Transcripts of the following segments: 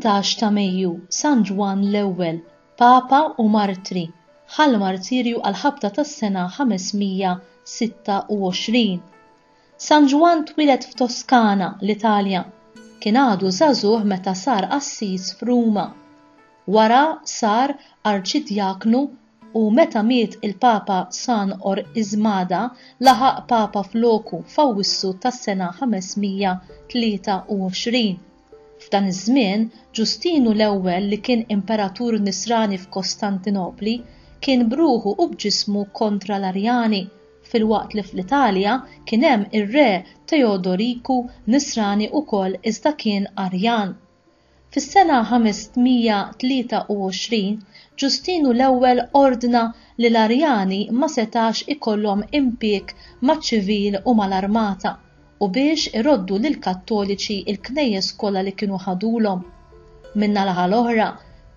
18 ta' Mejju, San Ġwann l-Ewwel, Papa u Martri, ħa l-martirju għall-ħabta tas-sena 526. San Ġwann twieled f'Toskana, l-Italja. Kien għadu żagħżugħ meta sar qassis f'Ruma. Wara sar arċidjaknu u meta miet il-Papa San Orqismada laħaq Papa floku f'Awwissu tas-sena 523. F'dan iż-żmien, Ġustinu l-Ewwel li kien imperatur Nisrani f'Kostantinopli, kien b'ruħu u b'ġismu kontra l-Arjani, filwaqt li fl-Italja kien hemm ir-Re Teodoriku, Nisrani wkoll iżda kien Arjan. Fis-sena 523, Ġustinu l-Ewwel ordna li l-Arjani ma setax ikollhom impieg maċ-ċivil u mal-armata, u biex iroddu lill-Kattoliċi l-knejjes kollha li kienu ħadulhom. Min-nalaħa l-oħra,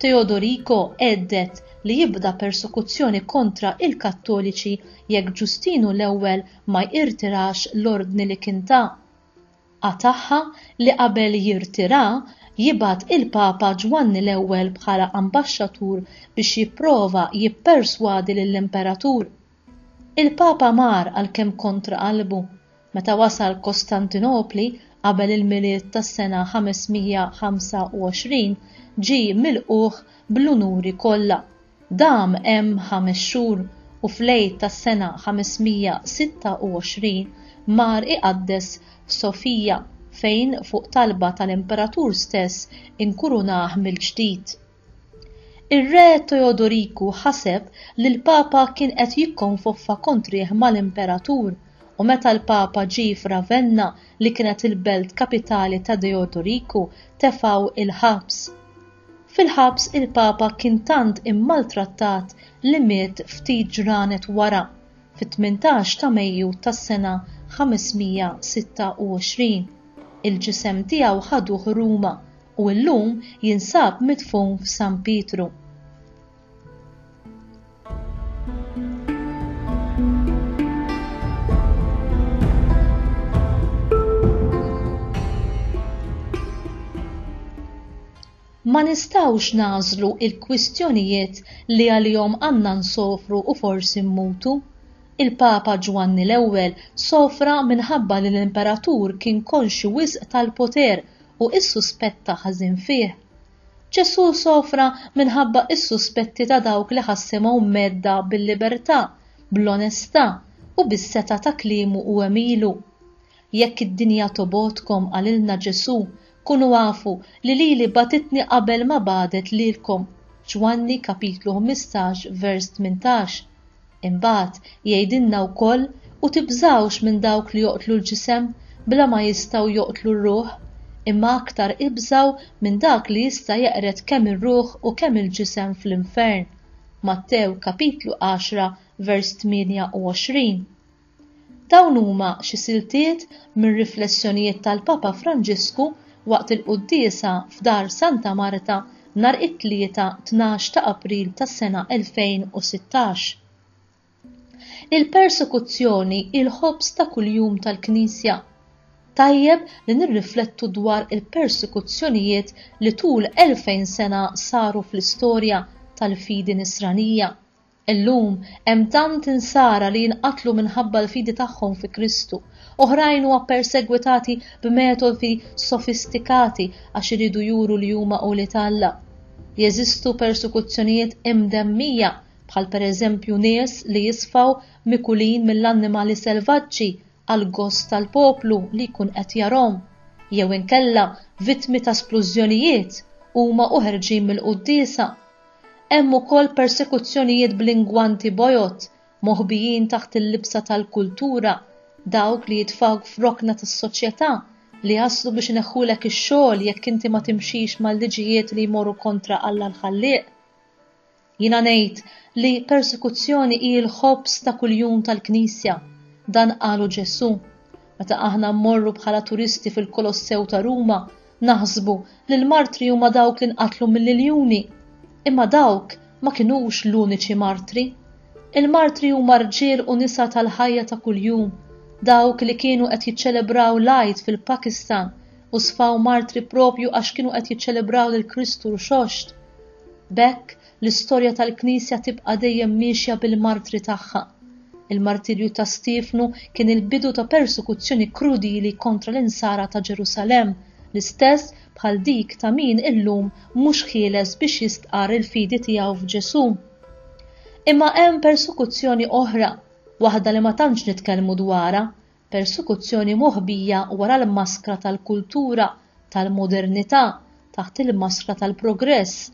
Teodorico hedded li jibda persekuzzjoni kontra il-Kattoliċi jekk Ġustinu l-Ewwel ma jirtirax l-ordni li kien ta. Qatagħha li qabel jirtirha jibgħat il-Papa Ġwanni l-Ewwel bħala ambaxxatur biex jipprova jipperswadi lill-Imperatur. Il-Papa mar għalkemm kontra qalbu Meta wasal Kostantinopli qabel il-Milied tas-sena 525, ġie milqugħ bl-unuri kollha. Dam hemm ħames xhur u fl-Għid tas-sena 526 mar iqaddes f'Sofija, fejn fuq talba tal-Imperatur stess inkurunah mill-ġdid. Ir-Re Teodoriku ħaseb li l-Papa kien qed jikkonfoffa kontrih mal-Imperatur, u meta l-Papa ġie f'Ravenna li kienet il-belt kapitali ta' Deodoriku, tefgħu il-ħabs. Fil-ħabs il-Papa kien tant immaltrattat li miet ftit ġranet wara, fit-18 ta' Mejju tas-sena 526. Il-ġisem tiegħu ħaduh Ruma, u llum jinsab midfun f'San Pietru. ma nistgħux nagħżlu l-kwistjonijiet li għalihom għandna nsofru u forsi mmutu. Il-Papa Ġwanni l-Ewwel sofra minħabba li l-Imperatur kien konxju wisq tal-poter u s-suspett ta' ħażin fih. Ġesù sofra minħabba s-suspetti ta' dawk li ħassimhom mgħedda bil-libertà, bl-onestà u bis-setgħa ta' kliemu u għemilu. Jekk id-dinja tobgħodkom, qalilna Ġesù, kunu afu li lili bagħtitni qabel ma bagħdet lilkom. Ġwanni, kapitlu 15, vers 18. Imbagħad jgħidilna wkoll, U tibżgħux minn dawk li joqtlu l-ġisem, bla ma jistgħu joqtlu r-ruħ, imma aktar ibżgħu minn dak li jista' jeqred kemm ir-ruħ u kemm il-ġisem fl-infern. Mattew, kapitlu għaxra, vers 28. Dawn huma xi siltiet minn riflessjonijiet tal-Papa Franġisku waqt il-quddiesa f'Dar Santa Marta nhar it-Tlieta tnax ta' April tas-sena 2016. Il-persekuzzjoni hi l-ħobż ta' kuljum tal-Knisja. Tajjeb li nirriflettu dwar il-persekuzzjonijiet li tul 2000 sena saru fl-istorja tal-fidi Nisranija. Illum, hemm tant Insara li jinqatlu minħabba l-fidi tagħhom fi Kristu. Oħrajn huwa ppersegwitati b'metodi sofistikati għax iridu juru li huma ulied Alla. Jeżistu persekuzzjonijiet imdemmija, bħal pereżempju nies li jisfaw mikulin mill-annimali selvaġġi għal gost tal-poplu li jkun qed jarahom, jew inkella vittmi ta' splużjonijiet huma u ħerġin mill-quddiesa. Hemm ukoll persekuzzjonijiet bl-ingwanti bojod, moħbijin taħt il-libsa tal-kultura, dawk li jitfgħuk f'rokna tas-soċjetà, li jaslu biex ineħħulek ix-xogħol jekk inti ma timxix mal-liġijiet li jmorru kontra Alla l-Ħallieq. Jiena ngħid li persekuzzjoni hi l-ħobż ta' kuljum tal-Knisja, dan qalu Ġesù. Meta aħna mmorru bħala turisti fil-Kolossew ta' Ruma, naħsbu li l-martri huma dawk li nqatlu mill-iljuni. Imma dawk ma kinux l-uniċi martri. Il-martri huma rġiel u nisa tal-ħajja ta' kuljum, dawk li kienu qed jiċċelebraw l-Għid fil-Pakistan u sfaw martri proprju għax kienu qed jiċċelebraw lil Kristu rxoxt. B'hekk, l-istorja tal-Knisja tibqa' dejjem miexja bil-martri tagħha. Il-martirju ta' Stiefnu kien il-bidu ta' persekuzzjoni krudili kontra l-Insara ta' Ġerusalemm, l-istess bħal dik ta' min illum mhux ħieles biex jistqarr il-fidi tiegħu f'Ġesù. Imma hemm persekuzzjoni oħra, waħda li ma tantx nitkellmu dwarha, Persekuzzjoni moħbija wara l-maskra tal-kultura tal-modernità taħt il-maskra tal-progress.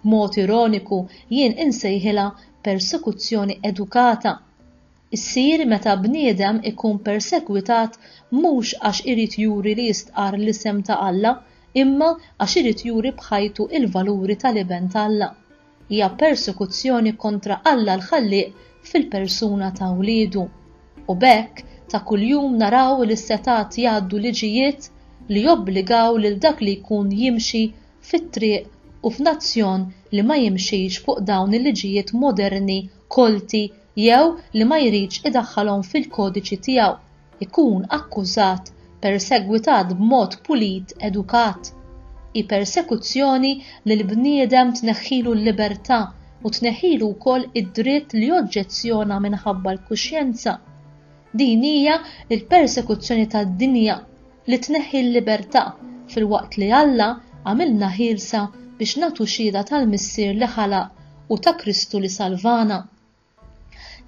B'mod ironiku jien insejħilha persekuzzjoni edukata. Issir meta bniedem ikun persegwitat mhux għax irid juri li jistqarr l-isem ta' Alla imma għax irid juri b'ħajtu l-valuri tal-Iben t'Alla. hija persekuzzjoni kontra Alla l-Ħallieq fil-persuna ta' wliedu, u b'hekk ta' kuljum naraw li s-setgħat jgħaddu liġijiet li jobbligaw lil dak li jkun jimxi fit-triq u f'nazzjon li ma jimxix fuq dawn il-liġijiet moderni kolti jew li ma jridx idaħħalhom fil-kodiċi tiegħu. ikun akkużat, persegwitat b'mod pulit, edukat. Hi persekuzzjoni li l-bniedem tneħħilu l-libertà u tneħħilu wkoll id-dritt li joġġezzjona minħabba l-kuxjenza. Din hija l-persekuzzjoni tad-dinja, li tneħħi l-libertà, filwaqt li Alla għamilna ħielsa biex nagħtu xhieda tal-Missier li ħalaq u ta' Kristu li salvana.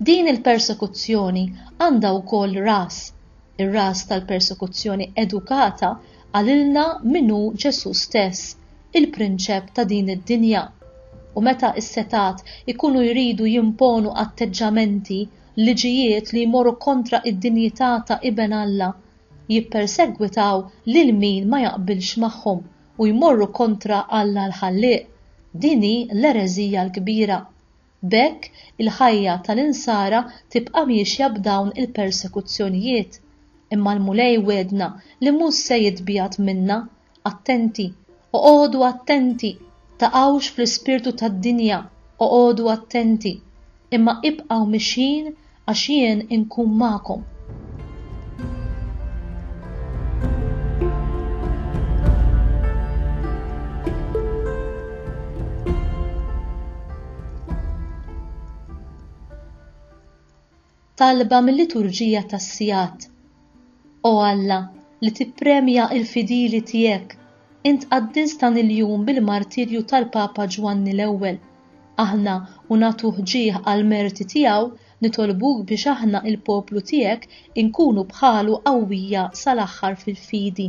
Din il-persekuzzjoni għandha wkoll ras, ir-ras tal-persekuzzjoni edukata qalilna min hu Ġesù stess, il-prinċep ta' din id-dinja. U meta s-setgħat ikunu jridu jimponu atteġġamenti, liġijiet li jmorru kontra d-dinjità ta' Iben Alla, jippersegwitaw lil min ma jaqbilx magħhom u jmorru kontra Alla l-Ħallieq, din hi l-ereżija l-kbira. B'hekk, il-ħajja tal-Insara tibqa' miexja b'dawn il-persekuzzjonijiet. Imma l-Mulej wegħedna li mhux se jitbiegħed minna. Attenti! Oqogħdu attenti! Taqgħux fl-ispirtu tad-dinja, oqogħdu attenti! Imma ibqgħu mixjin Għax jien inkun magħkom. Talba mil-liturġija tas-sigħat. O Alla, li tippremja l-fidili tiegħek, int qaddiżt dan il-jum bil-martirju tal-Papa Ġwanni l-Ewwel. Aħna, u nagħtu ħġieħ għall-merti tiegħu, nitolbuk biex aħna, il-poplu tiegħek, inkunu bħalu qawwija sal-aħħar fil-fidi.